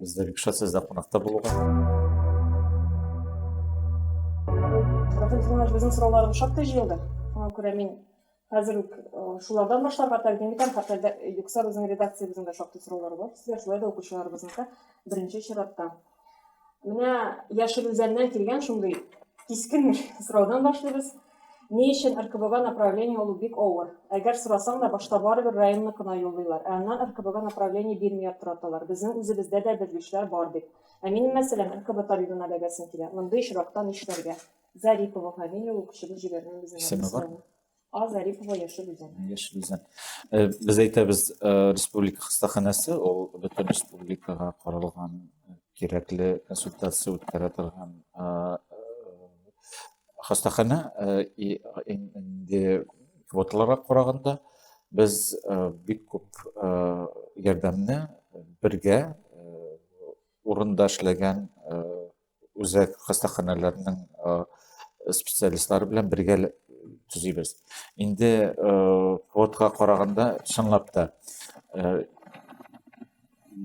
Бездә бик шат сездә кунакта булуга. Профессиональ безнең сорауларыбыз шактый җыелды. Шуңа күрә мин хәзер үк шулардан башларга тәкъдим итәм. Хәтта юкса безнең редакциябезнең дә шактый сораулары бар сезгә, шулай да укучыларыбызныкы беренче чиратта. Менә Яшел Үзәннән килгән шундый кискен сораудан башлыйбыз. Ни өчен РКБга направление алу бик авыр. Әгәр сорасаң да, башта барыбер районлык кына юллыйлар, ә аннан РКБга направление бирми яттыраталар, безнең үзебездә дә белгечләр бар бит. Ә минем мәсьәләм РКБ табибына бәгәсем килә. Мондый очракта нишләргә? Зарипова Фамилия ул кешебез җибәргән безнең Исеме бар? адресына. А. Зарипова Яшел Үзән. Яшел Үзән. Без әйтәбез, республика хастаханәсе, ул бөтен республикага каралган, кирәкле консультация үткәрә торган Хастахана инде квоталарга караганда без бик күп ярдәмне бергә урында эшләгән үзәк хастаханаларның специалистлары белән бергә төзибез. Инде квотага караганда чынлап та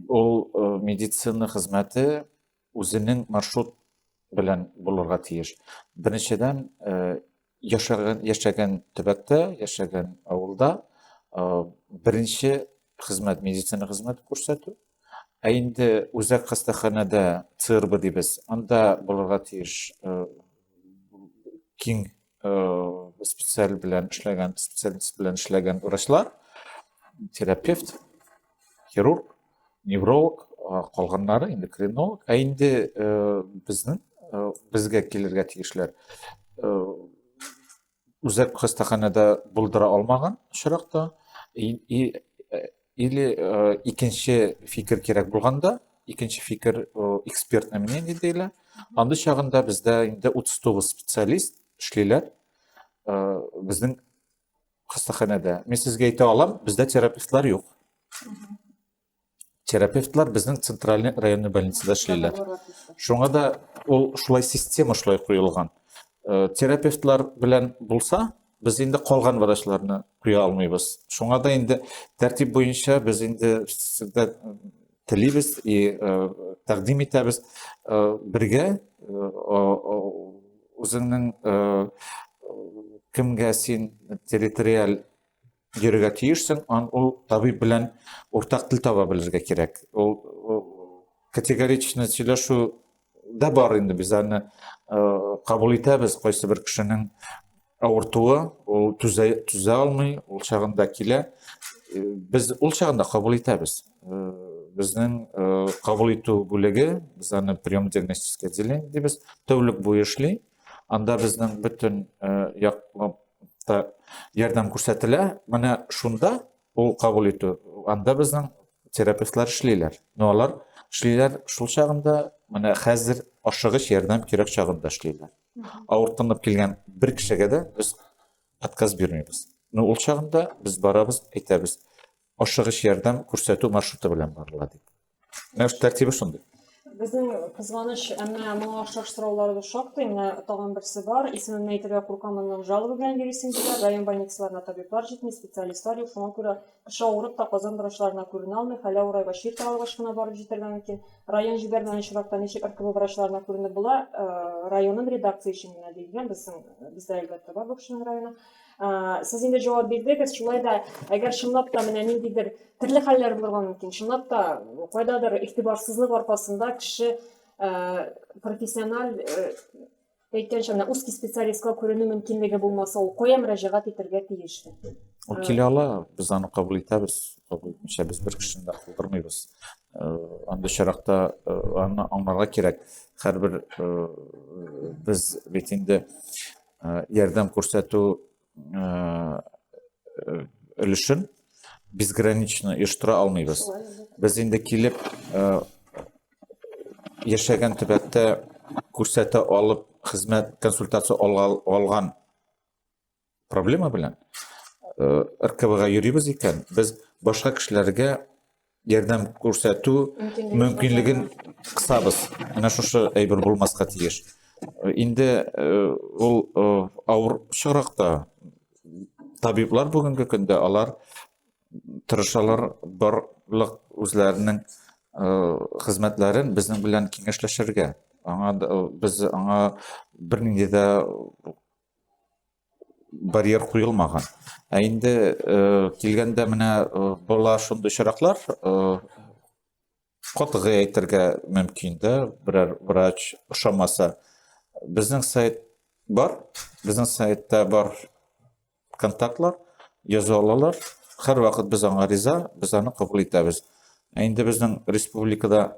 ул медицина хезмәте Үзенең маршрут белән булырга тиеш. Беренчедән, яшәгән, яшәгән төбәктә, яшәгән авылда беренче хезмәт, медицина хезмәте күрсәтү. Ә инде үзәк хастаханәдә ЦРБ дибез, анда булырга тиеш киң специаль белән эшләгән специалист белән эшләгән врачлар терапевт хирург невролог калганнары эндокринолог ә инде безнең безгә килергә тиешләр үзәк хастаханәдә булдыра алмаган очракта и, и Или э, икенче фикер кирәк булганда, икенче фикер э, экспертное мнение диләр. Андый чагында бездә инде 39 специалист эшлиләр. Э, безнең хастаханәдә. Мин сезгә әйтә алам, бездә терапевтлар юк. Терапевтлар безнең центральный районный больницада эшлиләр. Шуңа да ул шулай система шулай куелган. Э, терапевтлар белән булса, Без инде калган врачларны куя алмыйбыз. Шуңа да инде тәртип буенча без инде сездә телибез и тәкъдим итәбез бергә үзеңнең кемгә син территориаль йөрергә тиешсең, ан ул табиб белән уртак тел таба белергә кирәк. Ул категоричны сөйләшү дә бар инде без аны кабул итәбез кайсы бер кешенең авыртуы, ул түзә, түзә алмый, ул чагында килә. Без ул чагында кабул итәбез. Безнең кабул итү бүлеге, без аны прием диагностическое отделение дибез, тәүлек буе эшли. Анда безнең бөтен як ярдәм күрсәтелә. Менә шунда ул кабул итү, анда безнең терапевтлар эшлиләр. Но алар эшлиләр шул чагында, менә хәзер ашыгыч ярдәм кирәк чагында эшлиләр. Авыртынып килгән бер кешегә дә без отказ бирмибез. Но ул чагында без барабыз, әйтәбез, ашыгыч ярдәм күрсәтү маршруты белән барыла дип. Менә ш тәртибе шундый. Безнең кызганыч, әмма моңа охшаш сорауларыбыз шактый. Менә тагын берсе бар. Исемемне әйтергә куркам, аннан жалоба белән йөрисең диләр. Район больницаларына табиблар җитми, специалистлар юк. Шуңа күрә кеше авырып та казан врачларына күренә алмый, хәле авырайгач, чир таралгач кына барып җитәргә мөмкин. Район җибәрмәгән очракта ничек РКБ врачларына күренеп була? Районым редакция өчен генә диелгән, безнең бездә, әлбәттә, бар бу кешенең районы. Сез инде җавап бирдегез, шулай да әгәр чынлап та менә ниндидер төрле хәлләр булырга мөмкин. Чынлап та кайдадыр игътибарсызлык аркасында кеше профессиональ әйткәнчә менә узкий специалистка күренү мөмкинлеге булмаса, ул кая мөрәҗәгать итәргә тиеш? Ул килә ала, без аны кабул итәбез. Кабул итмичә без бер кешене дә калдырмыйбыз. Андый очракта аны аңларга кирәк. Һәрбер без бит инде ярдәм күрсәтү өлешен безгранично оештыра алмыйбыз без инде килеп яшәгән төбәктә күрсәтә алып хезмәт консультация алган проблема белән ркбга йөрибез икән без башка кешеләргә ярдәм күрсәтү мөмкинлеген кысабыз менә шушы әйбер булмаска тиеш инде э, ул э, авыр чоракта табиблар бүгенге көндә алар тырышалар барлык үзләренең э, хезмәтләрен безнең белән киңәшләшергә аңа без аңа бернинди дә барьер куелмаган. Ә инде э, килгәндә менә э, болар шундый очраклар э, катгый әйтергә мөмкин дә, берәр врач ошамаса. Безнең сайт бар, безнең сайтта бар контактлар, яза алалар. Һәр вакыт без аңа риза, без аны кабул итәбез. Ә инде безнең республикада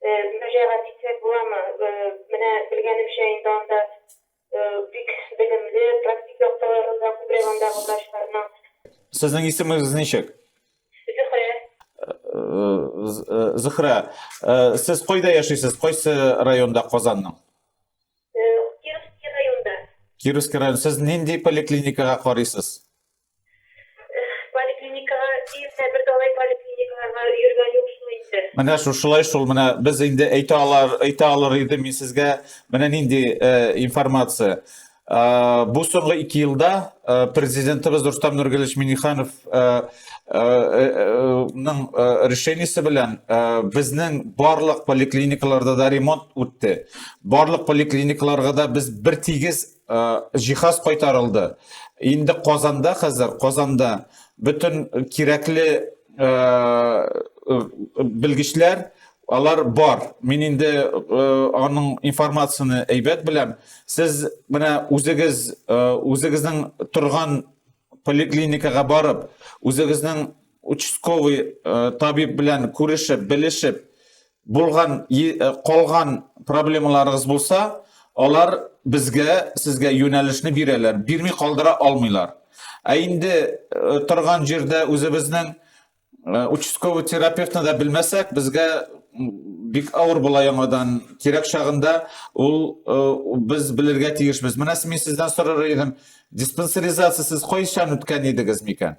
мөрәҗәгать итсәк буламы? Менә белгәнемчә инде анда бик белемле, практик яктыларын да күбрәк андагы врачларның. Сезнең исемегез ничек? Зөһрә. Зөһрә, сез кайда яшисез, кайсы районда Казанның? Кировский районда. Кировский район, сез нинди поликлиникага карыйсыз? поликлиникага июньдә бер далай поликлиникага йөргән юк шул инде. Менә шушылай шул, менә без инде әйтә алар, әйтә алыр иде мин сезгә менә нинди информация. Бу соңгы 2 елда президентыбыз Рустам Нургалевич Миниханов ның решениесе белән безнең барлык поликлиникаларда да ремонт үтте. Барлык поликлиникаларга да без бер тигез җиһаз кайтарылды. Инде Казанда хәзер, Казанда бөтен кирәкле белгечләр алар бар. Мин инде аның информацияне әйбәт беләм. Сез менә үзегез үзегезнең торган поликлиникага барып, үзегезнең участковый табиб белән күрешеп, белешеп, Булган, э, калган проблемаларыгыз булса, алар безгә, сезгә юнәлешне бирәләр, бирми калдыра алмыйлар. Ә инде э, торган җирдә үзебезнең э, участковый терапевтны да белмәсәк, безгә бик авыр була яңадан кирәк чагында ул э, без белергә тиешбез менә мин сездән сорар идем диспансеризация сез кайчан үткән идегез микән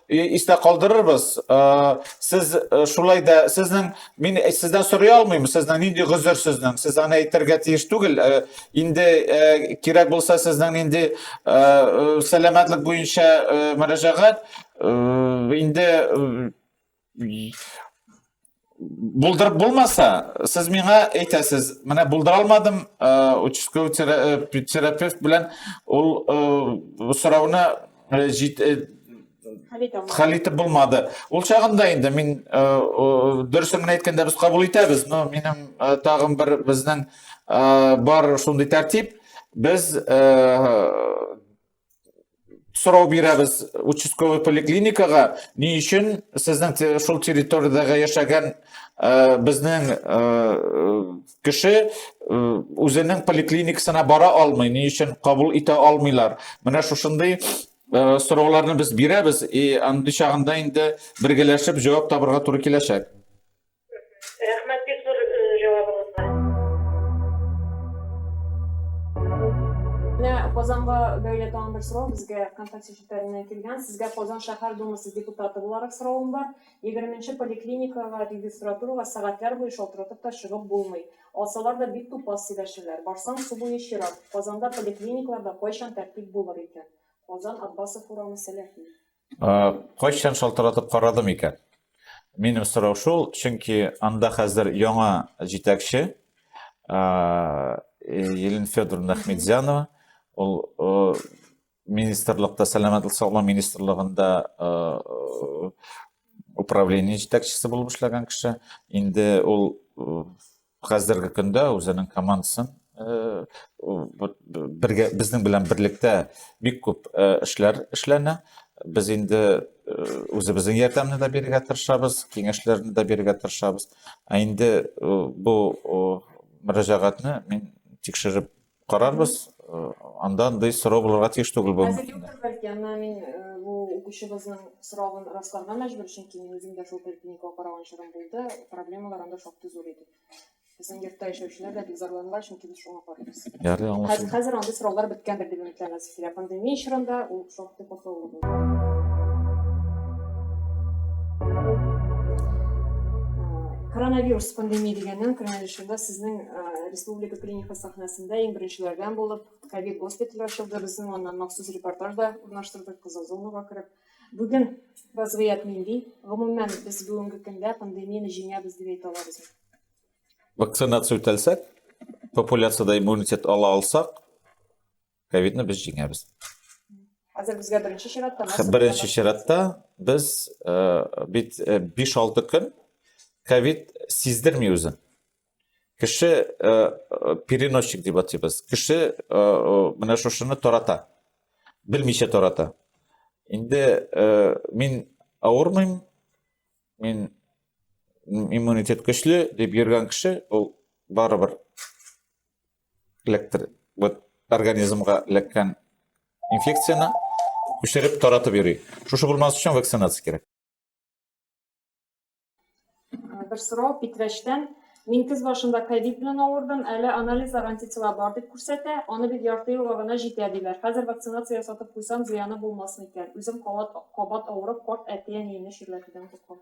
истә калдырырбыз. Сез шулай да сезнең мин сездән сорый алмыйм, сезнең нинди гозер сезнең? Сез аны әйтергә тиеш түгел. Инде кирәк булса сезнең нинди сәламәтлек буенча мөрәҗәгать инде Булдырып булмаса, сез миңа әйтәсез, менә булдыра алмадым, э, участковый э, терапевт белән ул э, сорауны хәл итеп булмады. Ул чагында инде мин дөресен генә әйткәндә без кабул итәбез, но минем тагын бер безнең бар шундый тәртип, без сорау бирәбез участковый поликлиникага ни өчен сезнең шул территориядәге яшәгән э, безнең э, кеше э, үзенең поликлиникасына бара алмый ни өчен кабул итә алмыйлар менә шушындый сорауларны без бирәбез и андый чагында инде бергәләшеп җавап табырга туры киләчәк Рәхмәт бик зур җавабыгызга. Менә Казанга бәйле тагын бер сорау безгә Вконтакте челтәреннән килгән. Сезгә Казан шәһәр Думасы депутаты буларак соравым бар. Егерменче поликлиникага регистратурага сәгатьләр буе шалтыратып та чыгып булмый. Алсалар да бик тупас сөйләшәләр. Барсаң су буе чират. Казанда поликлиникларда кайчан тәртип булыр икән? Казан, Аббасов урамы, Сәләхи. Кайчан шалтыратып карадым икән? Минем сорау шул, чөнки анда хәзер яңа җитәкче Елена Федоровна Ахмедзянова, ул министрлыкта, сәламәтлек саклау министрлыгында управление җитәкчесе булып эшләгән кеше. Инде ул хәзерге көндә үзенең командасын э, бергә безнең белән берлектә бик күп э, эшләр эшләнә без инде э, үзебезнең ярдәмне дә бирергә тырышабыз киңәшләрне дә бирергә тырышабыз ә инде бу мөрәҗәгатьне мин тикшереп Карарбыз, э, анда андый сорау булырга тиеш түгел бу. Хәзер юктыр бәлки, әмма мин э, бу укучыбызның соравын расларга мәҗбүр, чөнки мин үзем дә шул поликлиникага караган чорым булды, проблемалар анда шактый зур иде. Безнең йортта яшәүчеләр дә бик зарланалар, чөнки без шуңа карыйбыз. Ярый, аңлашылды. Хәзер андый сораулар беткәндер дип өметләнәбез. Зря пандемия чорында ул шактый катлаулы булды. Коронавирус пандемия дигәннән кронавирусында сезнең республика клиника сәхнәсендә иң беренчеләрдән булып ковид госпитале ачылды. Безнең аннан махсус репортаж да урнаштырдык кызыл зонага кереп. Бүген вазгыять нинди? Гомумән без бүгенге көндә пандемияне җиңәбез дип әйтә алабыз. Вакцинация үтәлсәк, популяциядә иммунитет ала алсак, ковидны без җиңәбез хәзер безгә беренче чиратта беренче чиратта без э, бит э, биш алты көн ковид сиздерми үзен кеше э, переносчик дип атыйбыз кеше менә шушыны тарата белмичә тарата инде мин авырмыйм мин иммунитет көчле дип йөргән кеше ул барыбер эләктер вот организмга эләккән инфекцияне күчереп таратып йөри шушы булмас өчен вакцинация кирәк бер сорау питрәчтән мин көз башында ковид белән авырдым әле анализлар антитела бар дип күрсәтә аны бит ярты елга гына җитә диләр хәзер вакцинация ясатып куйсам зыяны булмасын икән үзем кабат кабат авырып карт әти әниемне чирләтүдән куркам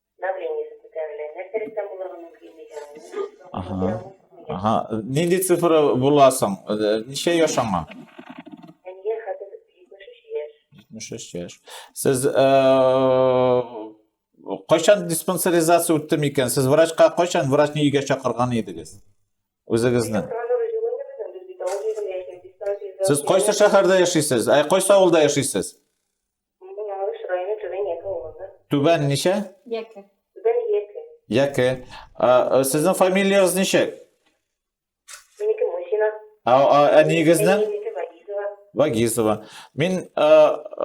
Давлениесе күтәрелә. Нәрсә рәттән булырга мөмкин дигән. Ага. Ага. Нинди цифра буласың? Э, ничә яшь аңа? Әнигә хәзер 73 яшь. 73 яшь. Сез э, кайчан диспансеризация үтте микән? Сез врачка кайчан врачны өйгә чакырган идегез? Үзегезне. Сез кайсы шәһәрдә яшисез? Ә кайсы авылда яшисез? Бу Малыш районы Түбән Яке авылында. Түбән ничә? Яке. Түбән Яке. Яке. Ә, э, Сезнең фамилиягыз ничек? Минеке Мусина. Ә, а, әниегезнең? Әниемнеке Вагизова. Вагизова. Мин э,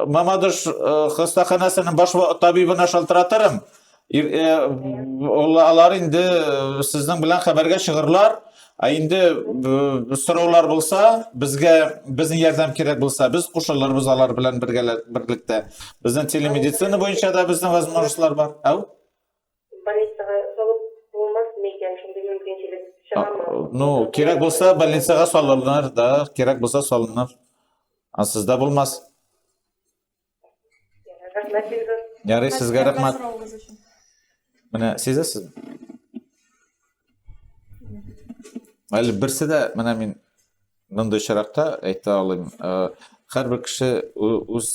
Мамадыш э, хастаханәсенең баш ва- табибына шалтыратырым. Алар инде сезнең белән хәбәргә чыгырлар. Ә инде сораулар булса, безгә безнең ярдәм кирәк булса, без кушылырбыз алар белән бергәләп-берлектә. Безнең телемедицина буенча да безнең возможностьлар бар. Әу? Больницага салып булмасмы икән, шундый мөмкинчелек чыгамы? Ну, кирәк булса, больницага салырлар да, кирәк булса салыныр. А сездә булмас. Рәхмәт бирде. Ярый, сезгә рәхмәт. Менә сизәсез? Әле берсе дә менә мин мондый очракта әйтә алыйм. Һәрбер кеше үз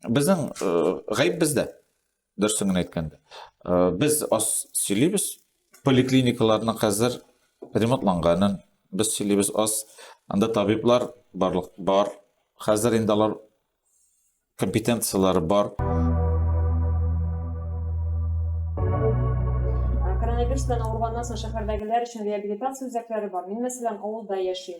безнең гаеп бездә. Дөресен генә әйткәндә, без аз сөйлибез. Поликлиникаларның хәзер ремонтланганын без сөйлибез аз. Анда табиблар барлык бар. Хәзер инде алар компетенцияләре бар. Коронавирус белән авырганнан соң шәһәрдәгеләр өчен реабилитация үзәкләре бар. Мин, мәсәлән, авылда яшим.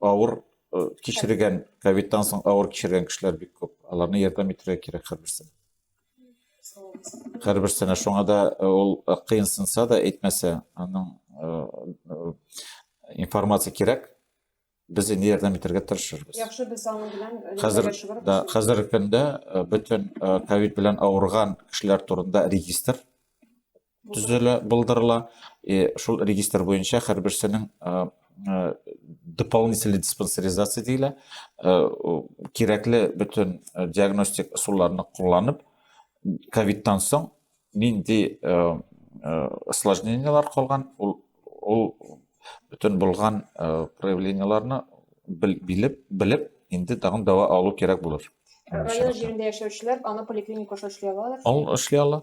Авыр э, кичергән, ковидтан соң авыр кичергән кешеләр бик күп. Аларны ярдәм итәргә кирәк һәрберсен. Һәрберсенә шуңа да э, ул э, кыенсынса да әйтмәсә, аның информация кирәк. Без инде ярдәм итәргә тырышырбыз. Яхшы без аның белән хәзер да хәзерге көндә бөтен ковид белән авырган кешеләр турында регистр төзелә, булдырыла. И шул регистр буенча һәрберсенең дополнительный диспансеризация диелә. Кирәкле бөтен диагностик ысулларны кулланып, ковидтан соң нинди осложнениелар калган, ул ул бөтен булган проявлениеларны билеп, белеп, инде тагын дәва алу кирәк булыр. Район җирендә яшәүчеләр аны поликлиника аша эшли алалар? Ул эшли ала.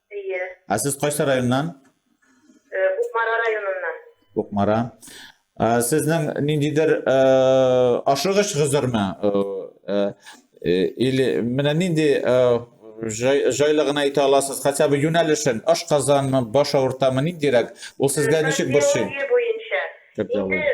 Әйе. Ә сез кайсы районнан? Э, Кукмара районыннан. Кукмара. Ә сезнең ниндидер э, ашыгыч гозерме? Э, или менә нинди җайлы гына әйтә аласыз, хотя бы юнәлешен, аш казанмы, баш авыртамы, ниндирәк? Ул сезгә ничек борчый? Кардиология буенча. Инде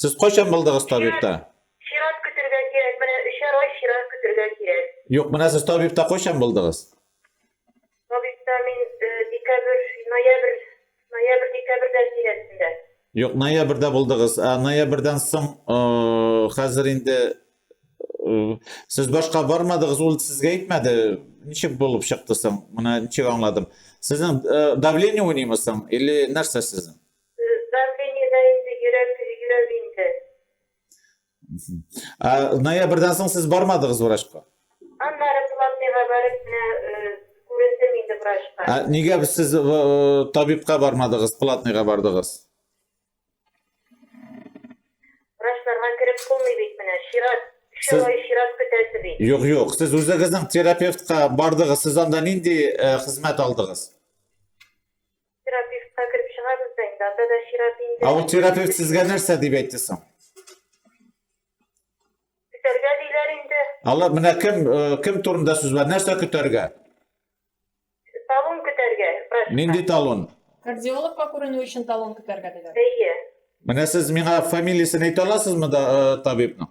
Сез кайчан булдыгыз табибта? Чират көтергә кирәк, менә өчәр ай чират көтергә кирәк. Юк, менә сез табибта кайчан булдыгыз? Табибта мин э, декабрь, ноябрь, ноябрь, декабрьдә тирәсендә. Юк, ноябрьдә булдыгыз. Ә ноябрьдән соң э, хәзер инде э, сез башка бармадыгыз, ул сезгә әйтмәде. Ничек булып чыкты соң? Менә ничек аңладым. Сезнең э, давление уйныймы соң или нәрсә сезнең? Давлениедә инде йөрәк йөрер инде. Ә ноябрьдән соң сез бармадыгыз врачка? Аннары платныйга барып менә күрендем инде врачка. Ә нигә сез табибка бармадыгыз, платныйга бардыгыз? Врачларга кереп булмый бит менә, чират, өчәү ай чират көтәсе бит. Юк, юк, сез үзегезнең терапевтка бардыгыз, сез анда нинди хезмәт алдыгыз? Терапевтка кереп чыгабыз да инде, анда да чират инде. Ә ул терапевт сезгә нәрсә дип әйтте соң? Көтәргә диләр инде. Алар менә кем э, кем турында сүз бар? Нәрсә көтәргә? Талон көтәргә. Нинди талон? Кардиологка күренү өчен талон көтәргә диләр. Әйе. Менә сез миңа фамилиясен әйтә аласызмы да э, табибның?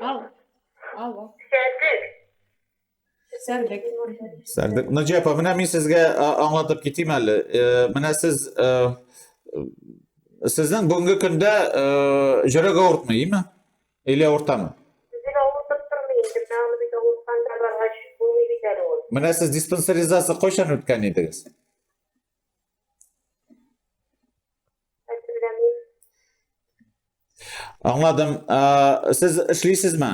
Ал. Алло. Сәрдек. Сәрдек. Сәрдек. Наҗия апа, менә мин сезгә аңлатып китим әле. Э, менә сез э, сезнең бүгенге көндә э, йөрәк авыртмый, име? Или авыртамы? Үзен авыртып тормый инде, менә аны бит авыртканда баргач булмый бит әле ул. Менә сез диспансеризация кайчан үткән идегез? Аңладым. Ә, сез эшлисезме?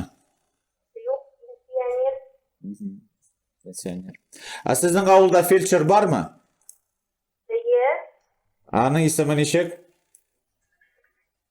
Юк, пенсионер. Пенсионер. Ә сезнең авылда фельдшер бармы? Әйе. Аның исеме ничек?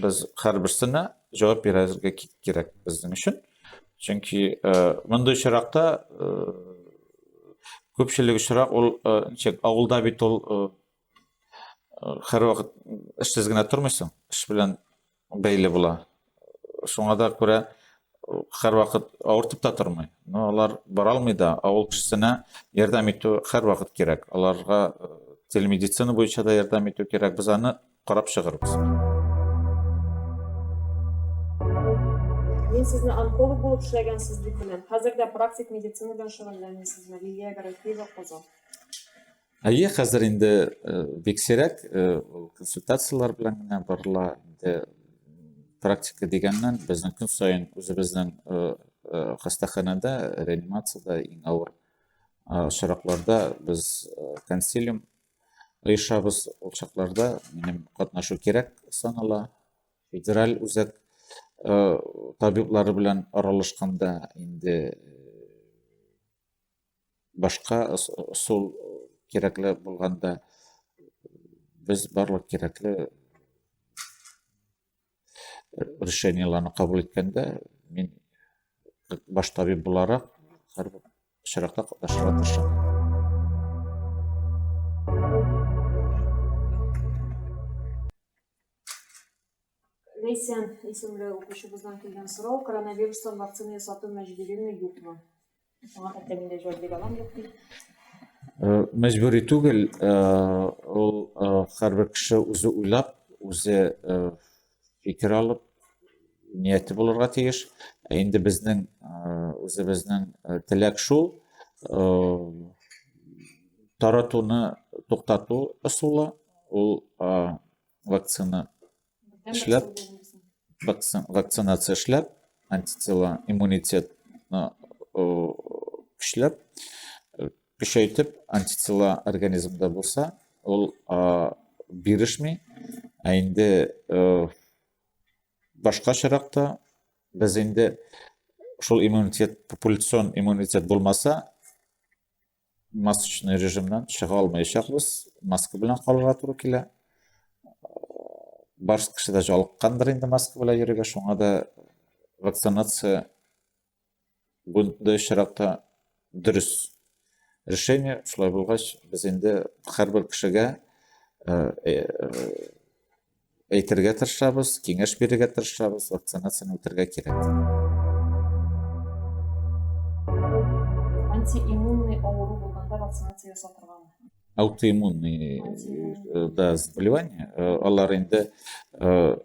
Без һәрберсенә җавап бирергә кирәк безнең өчен. Чөнки э, мондый очракта э, күпчелек очрак ул э, ничек авылда бит ул һәрвакыт эшсез генә тормыйсың, эш белән бәйле була. Шуңа да күрә һәрвакыт авыртып та тормый. Но алар бара алмый да, авыл кешесенә ярдәм итү һәрвакыт кирәк. Аларга телемедицина буенча да ярдәм итү кирәк. Без аны Карап чыгырбыз. Мин сезне онколог булып эшләгәнсез дип беләм. Хәзер дә практик медицина белән шөгыльләнәсезме? Лилия Гарәфиева, Казан. Әйе, хәзер инде э, бик сирәк э, консультацияләр белән генә барыла. Инде практика дигәннән безнең көн саен үзебезнең э, хастаханәдә, реанимациядә иң авыр очракларда без консилиум Оешабыз ул чакларда, минем катнашу кирәк санала. Федераль үзәк э, табиблары белән аралашканда инде э, башка сул кирәкле булганда без барлык кирәкле решениеләрне кабул иткәндә мин баш табиб буларак һәр очракта катнашырга тырышам Лейсен исемле укучыбыздан килгән сорау коронавирустан вакцина ясату мәҗбүриме юкмы Сиңа хәтта миндә җавап бирә алам юк бит. Э, мәҗбүри түгел, э, ул э, һәрбер кеше үзе уйлап, үзе фикер алып, нияте булырга тиеш. Ә инде безнең үзебезнең теләк шул, таратуны туктату ысулы, ул вакцина эшләп, вакцинация эшләп, антитела, иммунитет көчләп, көчәйтеп, антитела организмда булса, ул бирешми, ә инде башка чиракта без инде шул иммунитет, популяцион иммунитет булмаса, масочный режимнан чыга алмаячакбыз, маска белән калырга туры килә. Барс кеше дә жалыккандыр инде маска белән йөрергә, шуңа да вакцинация бунда очракта дөрес решение. Шулай булгач, без инде һәрбер кешегә э, э, әйтергә тырышабыз, киңәш бирергә тырышабыз, вакцинацияне үтәргә кирәк. Антииммунный авыру булганда вакцинация ясау торганмы? Аутоиммунный э, да заболевание, э, алар инде э,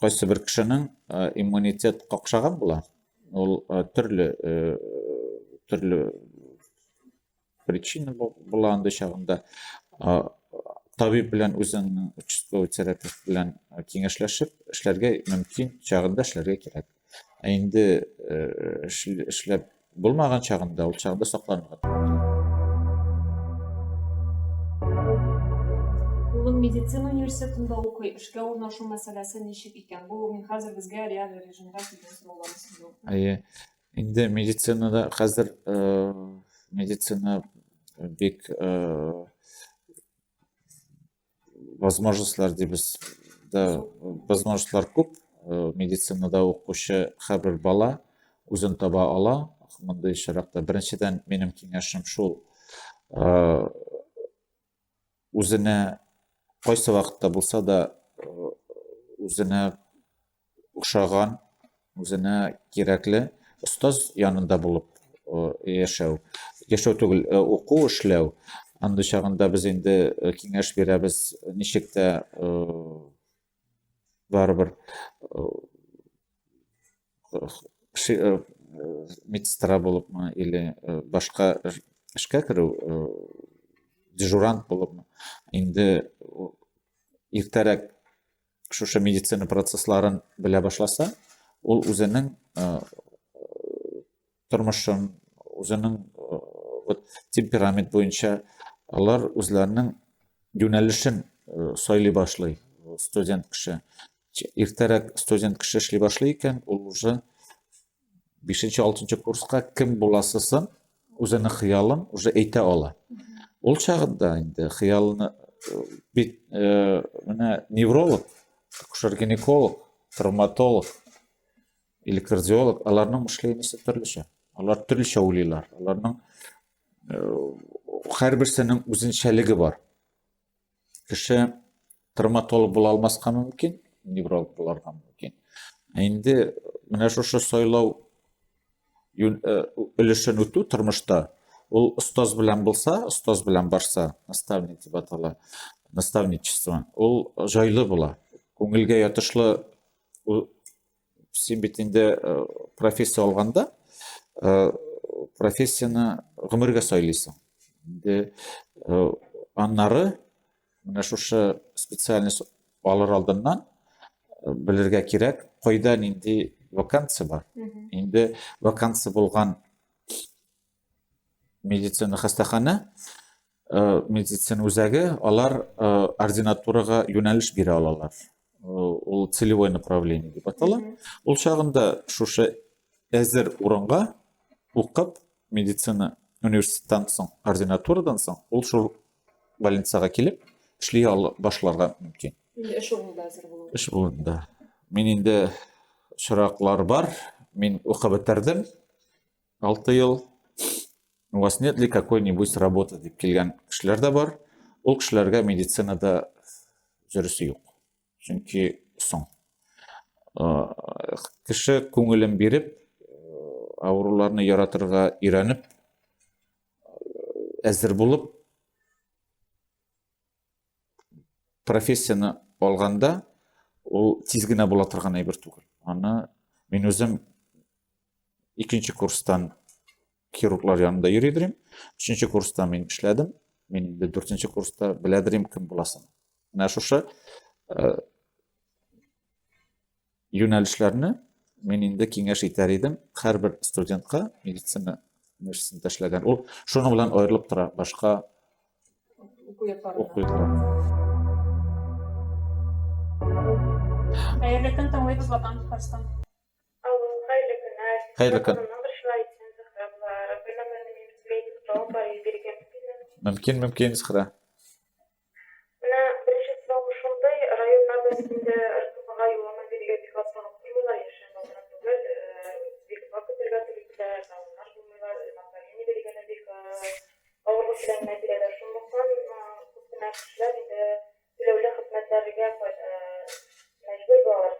кайсы бер кешенең иммунитет какшаган була. Ул төрле төрле причина була андый чагында табиб белән үзеңнең участковый терапевт белән киңәшләшеп эшләргә мөмкин чагында эшләргә кирәк ә инде эшләп булмаган чагында ул чагында сакланырга улым медицина университетында укый эшкә урнашу мәсьәләсе ничек икән бу мин хәзер безгә реаль режимда килгән сорауларны сизү әйе Инде медицинада хәзер медицина бик возможностьлар дибез да возможностьлар күп медицинада укучы һәрбер бала үзен таба ала мондый очракта беренчедән минем киңәшем шул үзенә кайсы вакытта булса да үзенә ошаган, үзенә кирәкле остаз янында булып яшәү. Яшәү түгел, уку эшләү. Андый чагында без инде киңәш бирәбез, ничек тә барыбер медсестра булыпмы или башка эшкә керү дежурант булыпмы инде иртәрәк шушы медицина процессларын белә башласа ул үзенең тормышын, үзенең вот темперамент буенча алар үзләренең юнәлешен сайлый башлый студент кеше. Иртәрәк студент кеше эшли башлый икән, ул уже 5-6 курска кем буласысын, үзенең хыялын уже әйтә ала. Ул чагында инде хыялны бит менә невролог, акушер-гинеколог, травматолог, электродиолог, аларның мышлениясе төрлечә. Алар төрлечә уйлыйлар. Аларның һәрберсенең үзенчәлеге бар. Кеше травматолог була алмаска мөмкин, невролог буларга мөмкин. Ә инде менә шушы сайлау өлешен үтү тормышта ул остаз белән булса, остаз белән барса, наставник дип атала, наставничество, ул жайлы була. Күңелгә ятышлы син бит инде э, профессия алганда э, профессияны гомергә сайлыйсың инде э, аннары менә шушы специальность алыр алдыннан белергә кирәк кайда нинди вакансия бар инде вакансия булган медицина хастахана э, медицина үзәге алар э, ординатурага юнәлеш бирә алалар э, ул целевой направление дип атала ул чагында шушы әзер урынга укып медицина университеттан соң ординатурадан соң ул шул больницага килеп эшли башларга мөмкин инде эш урынында әзер булу эш урынында мин инде очраклар бар мин укып бетердем 6 ел у вас нет ли какой-нибудь работы дип килгән кешеләр дә бар. Ул кешеләргә медицинада жүрүсе юк. Чөнки соң. Кеше күңелен биреп, авыруларны яратырга өйрәнеп, әзер булып, профессияне алганда ул тиз генә була торган әйбер түгел аны мин үзем икенче курстан хирурглар янында йөри идем өченче курста мин эшләдем мин инде дүртенче курста белә идем кем буласын менә шушы э, Юнәлешләрне мин инде киңәш итәр идем һәрбер студентка медицина нәрсәсен ташләгән. Ул шуның белән аерылып тора башка уку йортларыннан. Хәерле көн, тыңлыйбыз Ватан Татарстан. Алло, хәерле көннәр. Хәерле көн. Мөмкин, мөмкин, Зөһрә. Менә беренче сорауым шундый, районнарда синдә РКБга юллама бирергә бик атлыгып тормыйлар, яшерен дә гына түгел, бик озак көтәргә туры килә, талоннар булмыйлар, направление бирергә дә бик авырлык белән генә бирәләр, шунлыктан күп кенә кешеләр инде түләүле хезмәтләргә мәҗбүр булалар.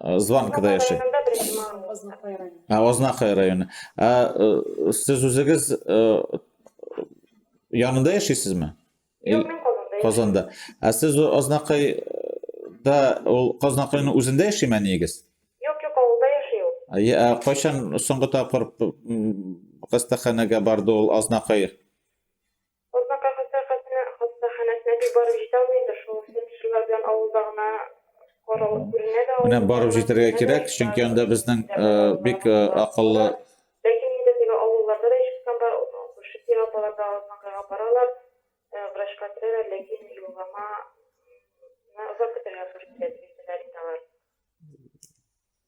Зван кыда яши? Ознахай районы. Сез үзегез янында яшисезме? Юк, мин Казанда. Казанда. Ә сез Ознахай да ул Казнакайның үзендә яшиме әниегез? Юк, юк, авылда яши ул. Ә кайчан соңгы тапкыр хастаханәгә барды ул Азнакай? Урмака хастаханәсенә хастаханәсенә бик барып җитә алмый инде, шул фельдшерлар белән авылда гына каралып күренә дә Менә барып җитәргә кирәк, чөнки анда безнең бик акыллы Ләкин инде теге авылларда да ишеткән бар, күрше тирә апалар да Азнакайга баралар, врачка керәләр, ләкин юллама ны озак көтәргә туры килә, дип әйтәләр инде алар.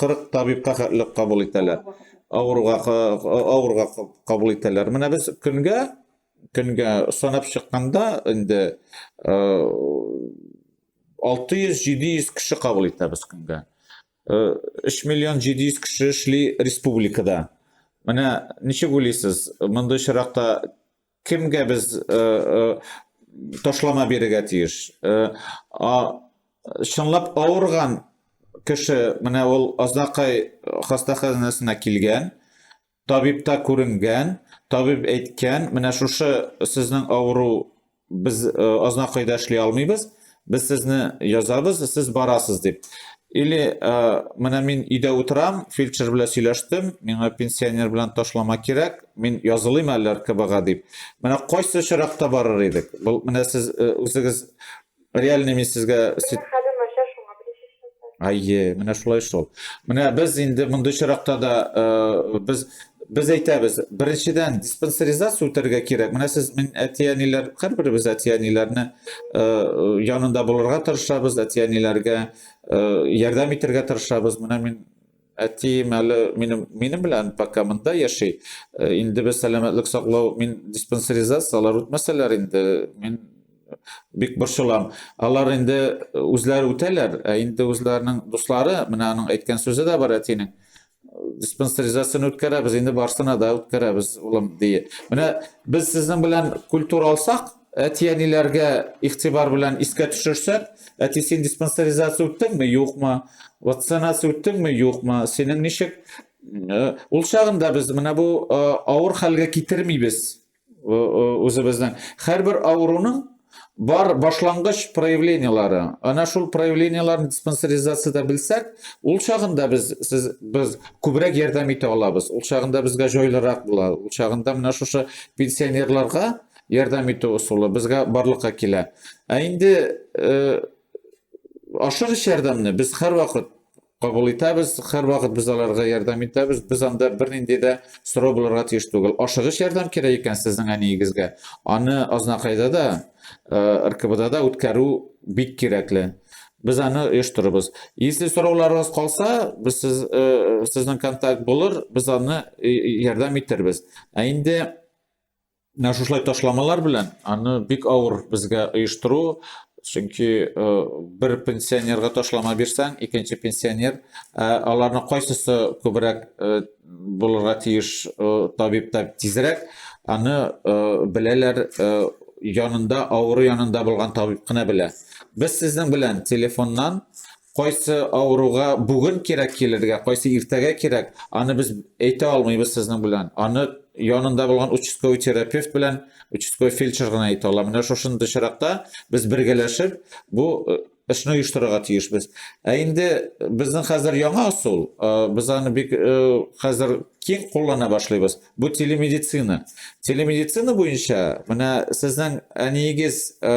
40 табибка хәтле кабул итәләр. Авыруга авыруга кабул итәләр. Менә без көнгә көнгә санап чыкканда инде 600-700 кеше кабул итәбез көнгә. 3 миллион 700 кеше эшли республикада. Менә ничек уйлыйсыз, мондый чиракта Кемгә без э, э, ташлама бирергә тиеш? Э, а, чынлап авырган кеше, менә ул Азнакай хастаханәсенә килгән, табибта күренгән, табиб әйткән, менә шушы сезнең авыру без э, Азнакайда эшли алмыйбыз, Без сезне язабыз, сез барасыз дип. Или менә мин өйдә утырам, фельдшер белән сөйләштем, миңа пенсионер белән ташлама кирәк, мин язылыйм әле РКБга дип. Менә кайсы очракта барыр идек? Бу менә сез үзегез реальными сезгә Әйе, менә шулай шул. Менә без инде мондый чиракта да э, без без әйтәбез, беренчедән диспансеризация үтәргә кирәк. Менә сез мин әти-әниләр, һәрберебез әти-әниләрне э, янында булырга тырышабыз, әти-әниләргә э, ярдәм итәргә тырышабыз. Менә мин Әтием әле минем, минем белән пока монда яши. Э, инде без сәламәтлек саклау, мин диспансеризация, алар үтмәсәләр инде, мин бик борчылам. Алар инде э, үзләре үтәләр, ә инде үзләренең дуслары, менә аның әйткән сүзе дә бар әтинең. Диспансеризацияне үткәрәбез, инде барсына да үткәрәбез, улым, ди. Менә без сезнең белән культура алсак, Әти-әниләргә игътибар белән искә төшерсәк, әти син диспансеризация үттеңме, юкмы? Вакцинация үттеңме, юкмы? Синең ничек? Ул чагында без менә бу авыр хәлгә китермибез үзебезнең. Һәрбер авыруның бар башлангыч проявлениелары. Ана шул проявлениеләрне диспансеризациядә белсәк, ул чагында без сез без күбрәк ярдәм итә алабыз. Ул чагында безгә җайлырак була. Ул чагында менә шушы пенсионерларга ярдәм итү ысулы безгә барлыкка килә. Ә инде э, ашыгыч ярдәмне без һәрвакыт кабул итәбез, һәрвакыт без аларга ярдәм итәбез. Без анда бернинди дә сорау булырга тиеш түгел. Ашыгыч ярдәм кирәк икән сезнең әниегезгә, аны Азнакайда да, э, РКБда да үткәрү бик кирәкле. Без аны оештырырбыз. Если сорауларыгыз калса, без сез, э, сезнең контакт булыр, без аны э, ярдәм итербез. Ә инде Менә шушылай ташламалар белән аны бик авыр безгә оештыру, чөнки э, бер пенсионерга ташлама бирсәң, икенче пенсионер, ә аларны кайсысы күбрәк э, булырга тиеш э, табиб та тизрәк, аны беләләр янында, авыру янында булган табиб кына белә. Без сезнең белән телефоннан Кайсы авыруга бүген кирәк килергә, кайсы иртәгә кирәк, аны без әйтә алмыйбыз сезнең белән. Аны янында булган участковый терапевт белән участковый фельдшер гына әйтә ала. Менә шушындый очракта без бергәләшеп бу э, эшне оештырырга тиешбез. Ә инде безнең хәзер яңа ысул, э, без аны бик э, хәзер киң куллана башлыйбыз. Бу телемедицина. Телемедицина буенча менә сезнең әниегез э,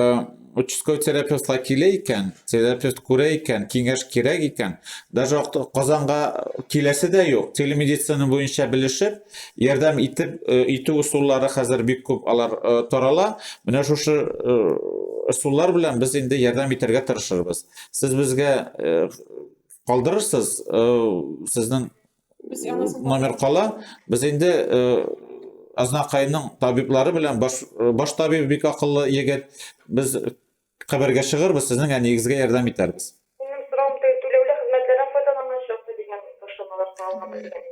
участковый терапевтка килә икән, терапевт күрә икән, киңәш кирәк икән, даже Казанга киләсе дә юк. Телемедицина буенча белешеп, ярдәм итеп э, итү усуллары хәзер бик күп алар э, тарала. Менә шушы ысуллар белән без инде ярдәм итәргә тырышырбыз. Сез безгә калдырырсыз сезнең номер кала. Без инде Азнакайның табиблары белән баш, баш табиб бик акыллы егет. Без хәбәргә чыгырбыз, сезнең әниегезгә ярдәм итәрбез.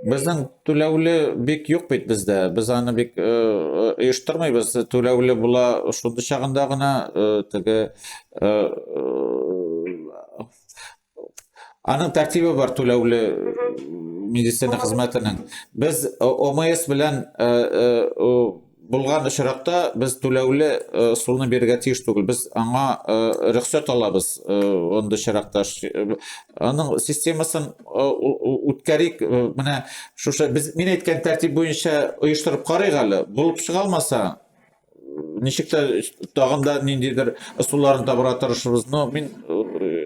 Безнең түләүле бик юк бит бездә. Без аны бик оештырмыйбыз. Түләүле була шундый чагында гына теге Аның тәртибе бар түләүле медицина хезмәтенең. Без ОМС белән булган очракта без түләүле э, суны бирергә тиеш түгел. Без аңа э, рөхсәт алабыз э, андый очракта. Аның системасын үткәрик. Менә шушы без мин әйткән тәртип буенча оештырып карыйк әле. Булып чыга алмаса, ничек тә тагын да ниндидер ысулларын табырга тырышырбыз но мин э,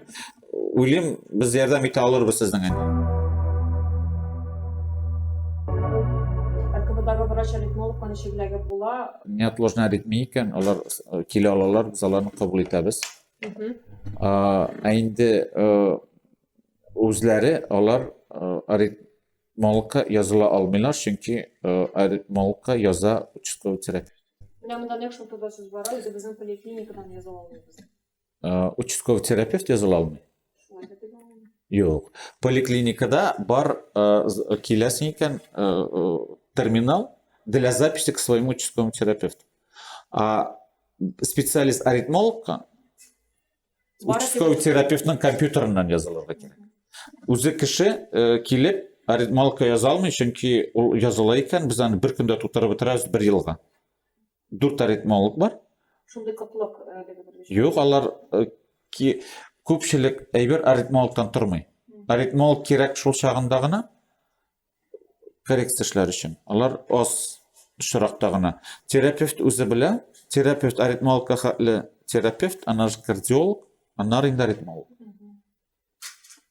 уйлыйм без ярдәм итә алырбыз сезнең әнә врач аритмолог ничекләге була неотложная аритмия икән алар э, килә алалар без аларны кабул итәбез ә инде э, үзләре алар Малка языла алмыйлар, чөнки э, малка яза участковый терапевт. Менә монда нәкъ шул турыда сүз бара, үзебезнең поликлиникадан яза алмыйбыз. Э, участковый терапевт языла алмый? Шулай да дигән. Юк. Поликлиникада бар э, киләсең икән терминал для записи к своему участковому терапевту. А специалист аритмологка участковый терапевтның компьютерыннан язылырга кирәк үзе кеше э, килеп аритмалка яза алмый чөнки ул языла икән без аны бер көндә тутырып бетерәбез бер елга дүрт аритмолог бар шундый кытлык э, юк алар э, ки күпчелек әйбер аритмологтан тормый аритмолог кирәк шул чагында гына коррекция эшләр өчен. Алар аз очракта гына. Терапевт үзе белә, терапевт аритмологка хәтле терапевт, аннары кардиолог, аннары инде аритмолог.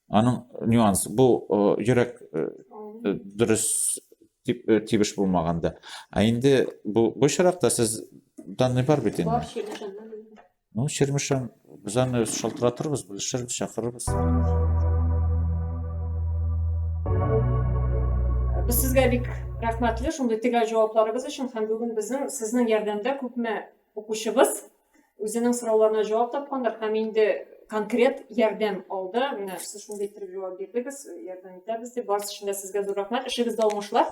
Аның нюанс бу йөрәк дөрес дип тибеш булмаганда. Ә инде бу бу очракта сез данный бар бит инде. Ну, Чермышам, без аны шалтыратырбыз, белешербез, чакырырбыз. Без сезгә бик рәхмәтле шундый төгәл җавапларыгыз өчен һәм бүген безнең сезнең ярдәмдә күпме укучыбыз үзенең сорауларына җавап тапкандыр һәм инде конкрет ярдәм алды. Менә сез шундый итеп җавап бирдегез, ярдәм итәбез дип. Барысы өчен дә сезгә зур рәхмәт. Эшегездә уңышлар.